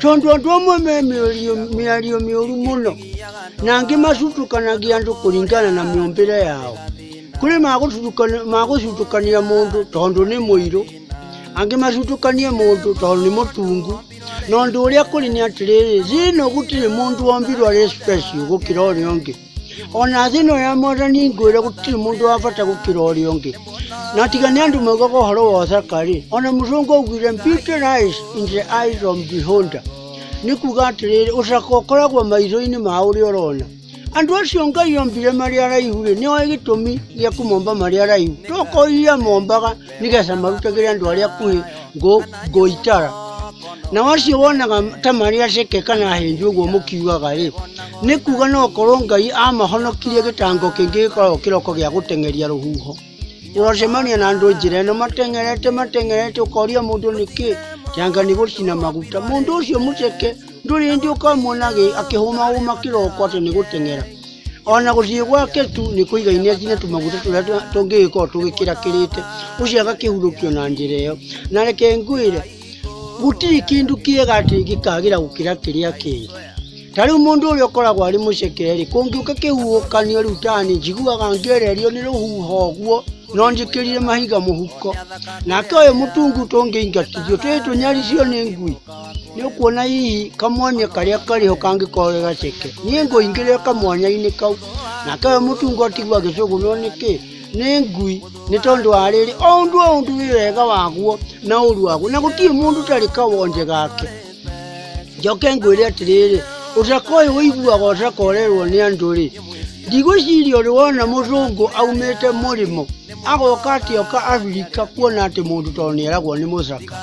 tondũ andũ amwe me mĩario- mĩario mĩũru mũno na angĩ macutukanagia andũ kũringana na mĩũmbĩre yao kũrĩ magũcutukana- magũcutukania mũndũ tondũ nĩ mũirũ angĩ macutukanie mũndũ tondũ nĩ mũtungu na ũndũ ũrĩa kũrĩ nĩ atĩrĩrĩ thĩinĩ gũtirĩ mũndũ wombirwo arĩ special gũkĩra ũrĩa ũngĩ ona thĩ ĩno ya mwathani ngwĩre gũtirĩ mũndũ wa bata gũkĩra ũrĩa ũngĩ na tiga nĩ andũ maugaga ũhoro wa ũthaka rĩ ona mũthũngũ augire beauty lies in the eyes of beholder nĩ kuga atĩrĩrĩ ũcaka ũkoragwo maitho-inĩ ma ũrĩa ũrona andũ acio ngai ombire marĩ araihu rĩ nĩ oĩ gĩtũmi gĩa kũmomba marĩ araihu tokoiria mombaga nĩgetha marutagĩre andũ arĩa akuhĩ ngũ- ngũitara na wacio wonaga ta marĩ aceke kana ahĩnju ũguo mũkiugaga rĩ nĩ kuga no korwo ngai amahonokirie gĩtango kĩngĩ gĩkoragwo kĩroko gĩa gũteng'eria rũhuho ũracemania na andũ njĩra ĩno mateng'erete mateng'erete ũkoria mũndũ nĩkĩ kĩanga nĩ gũcina maguta mũndũ ũcio mũceke ndũrĩ hĩndĩ ũkamwona agĩ- akĩhũmahũma kĩroko atĩ nĩ gũteng'era ona gũthiĩ gwake tu nĩ kũiga ineti na tũmaguta tũrĩa tũ- tũngĩgĩkorwo tũgĩkĩrakĩrĩte ũcio agakĩhurũkio na njĩra ĩyo na reke ngwĩre gũtirĩ kĩndũ kĩega atĩ gĩkagĩra gũkĩra kĩrĩa kĩngĩ ta rĩu mũndũ ũrĩa ũkoragwo arĩ mũcekeri kũngĩũka kĩhuhũkanio rĩu tani njiguaga ngĩererio nĩ rũhuho ũguo no njĩkĩrire mahiga mũhuko nake ũyũ mũtungu tũngĩingatithio twĩ tũnyaricio nĩ ngui Nĩ ũkuona hihi kamwanya karĩa karĩ ho kangĩkorwo ge gaceke. Niĩ ngũingĩrĩra kamwanya-inĩ kau. Nake we mũtungo tigwo agĩcũgũnwo nĩ kĩ? Nĩ ngui. Nĩ tondũ wa rĩrĩ, o ũndũ o ũndũ wĩ wega waguo na ũru waguo. Na gũtirĩ mũndũ ũtarĩ kawonje gake. Njoke ngwĩre atĩrĩrĩ, ũcaka ũyũ ũiguaga ũcaka ũrerwo nĩ andũ rĩ, ndigwĩciria ũrĩ wona mũcũngũ aumĩte mũrĩmo agoka atĩ oka Abirika kuona atĩ mũndũ tondũ nĩ eragwo nĩ mũcaka.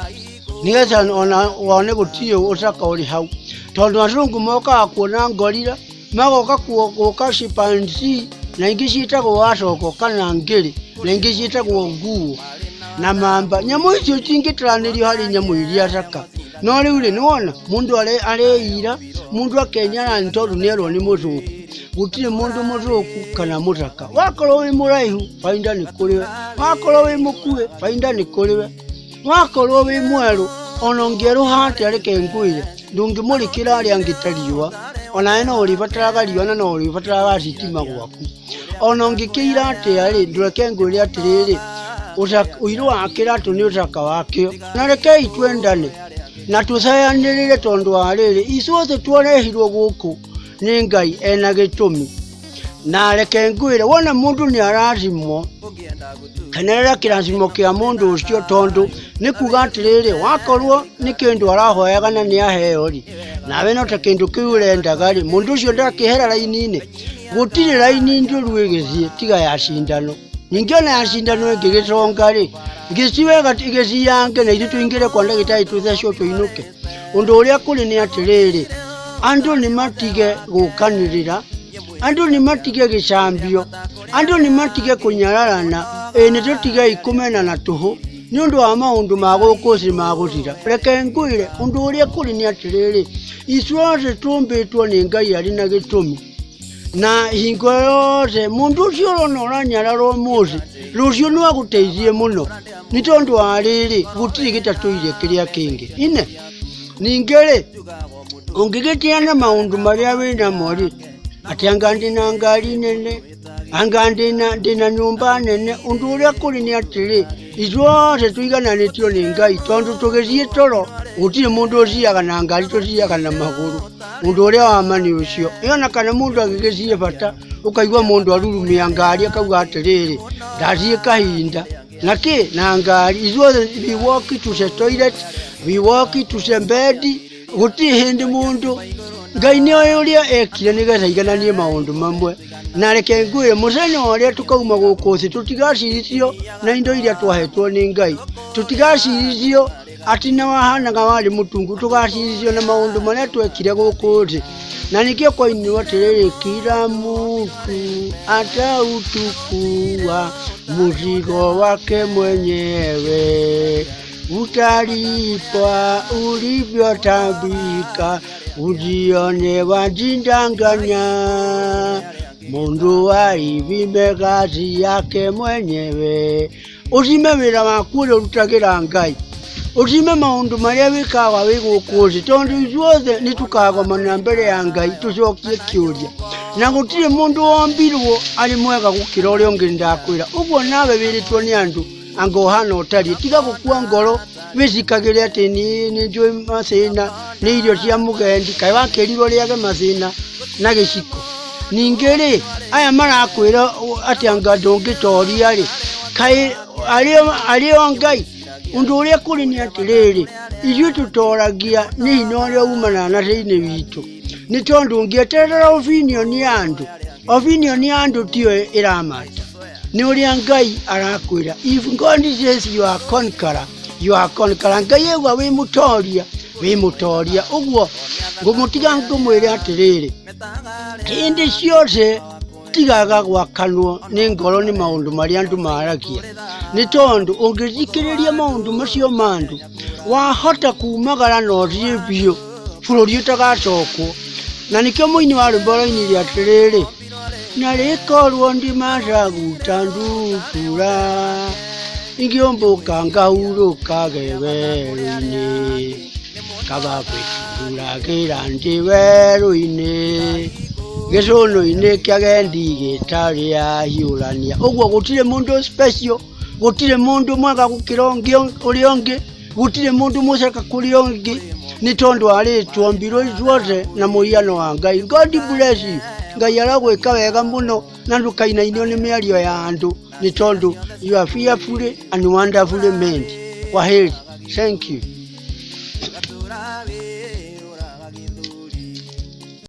nĩgetha ona wone gũtirĩ ũcaka ũrĩ hau tondũ azungu mokaga kuona ngorira magoka kuo- gũka cipansi na ingĩ ciĩtagwo wacogo kana ngĩrĩ na ingĩ ciĩtagwo nguo na mamba nyamũ icio cingĩtaranĩrio harĩ nyamũ iria thaka no rĩu rĩ nĩwona mũndũ are- areira mũndũ akenyara nĩ tondũ nĩerwo nĩ mũthũku gũtirĩ mũndũ mũthũku kana mũthaka wakorwo wĩ mũraihu bainda nĩ kũrĩ we wakorwo wĩ mũkuĩ bainda nĩ kũrĩ we wakorwo wĩ mwerũ ona ũngĩerũha atĩa reke ngwĩre ndũngĩmũrĩkĩra arĩa angĩ ta riũa onawe no ũrĩbataraga riũa na no ũrĩbataraga thitima gwaku ona ũngĩkĩira atĩa rĩ ndũreke ngwĩre atĩrĩrĩ ũca- ũirũ wa kĩratũ nĩ ũcaka wakĩo na rekei twendane na tũcayanĩrĩre tondũ wa rĩrĩ icuothe twarehirwo gũkũ nĩ ngai ena gĩtũmi na reke ngwĩre wona mũndũ nĩ arathimwo kenerera kĩrathimo kĩa mũndũ ũcio tondũ nĩ kuga atĩrĩrĩ wakorwo nĩ kĩndũ arahoyaga na nĩ aheo rĩ nawe no ta kĩndũ kĩu ũrendaga rĩ mũndũ ũcio ndakĩhera raini-inĩ gũtirĩ raini njũru ĩgĩthiĩ tiga ya cindano ningĩ ona ya cindano ĩngĩgĩconga rĩ gĩciwega igĩciyange na ithuĩ tũingĩre kwa ndagĩtarĩ tũthecwo tũinũke Ũndũ ũrĩa kũrĩ nĩ atĩrĩrĩ, andũ nĩ matige gũkanĩrĩra, andũ nĩ matige gĩcambio, andũ nĩ matige kũnyararana, ĩĩ nĩ tũtigei kũmena na tũhũ nĩ ũndũ wa maũndũ ma gũkũ thĩ ma gũthira. Reke ngwĩre, ũndũ ũrĩa kũrĩ nĩ atĩrĩrĩ, ithuothe tũmbĩtwo nĩ Ngai arĩ na gĩtũmi. na hingo yothe mundu ucio urona uranyarara umuthi rucio no aguteithie muno ni tondu wa riri gutiri gitatuire kiria kingi ine ningi ri ungigitiana maundu maria wi namo ri ati anga ndi na ngari nene anga ndi na ndi na nyumba nene undu uria kuri ni atiri ithuothe tũigananĩtio nĩ ngai tondũ tũgĩthiĩ toro gũtirĩ mũndũ ũciaga na ngari tũciaga na magũrũ ũndũ ũrĩa wa ma nĩ ũcio ĩona kana mũndũ agĩgĩciĩ bata ũkaigua mũndũ arurumia ngari akauga atĩrĩrĩ ndathiĩ kahinda na kĩ na ngari ithuothe we walk to the toilet we walk to the bed gũtirĩ hĩndĩ mũndũ ngai nĩ oĩ ũrĩa ekire nĩgetha igananie maũndũ mamwe na reke ngwĩre mũthenya ũrĩa tũkauma gũkũ thĩ tũtigacirithio na indo iria twahetwo nĩ ngai tũtigacirithio atĩ na wahanaga warĩ mũtungu tũgacirithio na maũndũ marĩa twekire gũkũ thĩ na nĩkĩo kwainirwo atĩrĩrĩ kira mũtu atautukua mũzigo wake mwenyewe Utalipa ulivyotambika, ujione wajindanganya. Mundu waivime kazi yake mwenyewe, uzime wira wakule urutagira Ngai uzime maundu maria wikaga wi guku thi tondu ithuothe nitukagomana mbere ya Ngai tucokie kiuria na gutiri mundu wombirwo ari mwega gukira uria ungi ndakwira uguo nawe wiritwo ni andu anga ũhana ũtariĩ tiga gũkua ngoro wĩcikagĩre atĩ nĩ nĩ njũĩ macĩna nĩ irio cia mũgendi kaĩ wakĩrirwo rĩage macĩna na gĩciko ningĩ rĩ aya marakwĩra ũ- atĩ anga ndũngĩtoria rĩ kaĩ arĩ- arĩ o ngai ũndũ ũrĩa kũrĩ nĩ atĩrĩrĩ ithuĩ tũtoragia nĩ hinya ũrĩa umanaga na thĩinĩ witũ nĩ tondũ ũngĩeterera opinion ya andũ Opinion ya andũ tiyo ĩramata. Nĩ ũrĩa Ngai arakwĩra. If God says you are conqueror, you are conqueror. Ngai auga wĩ mũtoria, wĩ mũtoria. Ũguo ngũmũtiga ngũmwĩre atĩrĩrĩ. Hĩndĩ ciothe tigaga gwakanwo nĩ ngoro nĩ maũndũ marĩa andũ maragia. Nĩ tondũ ũngĩthikĩrĩria maũndũ macio ma andũ, wahota kumagara na ũthiĩ biũ bũrũri ũtagacokwo na nĩkĩo mũini wa rwĩmbo ũrainire atĩrĩrĩ na rĩkorwo ndimacaguta ndukura ingĩũmbũka ngahurũka gewerũ-inĩ kaba kwĩhuragĩra ndĩ werũ-inĩ gĩcũnũ-inĩ kĩa gendi gĩtarĩ ahiũrania ũguo gũtirĩ mũndũ special gũtirĩ mũndũ mwega gũkĩra ũngĩ ũrĩa ũngĩ gũtirĩ mũndũ mũceka kũrĩa ũngĩ nĩ tondũ arĩ twombirwo ithuothe na mũhiano wa ngai god bless you ngai aragwĩka wega mũno na ndũkainainio nĩ mĩario ya andũ nĩ tondũ you are fearfully and wonderfully made kwaheri thank you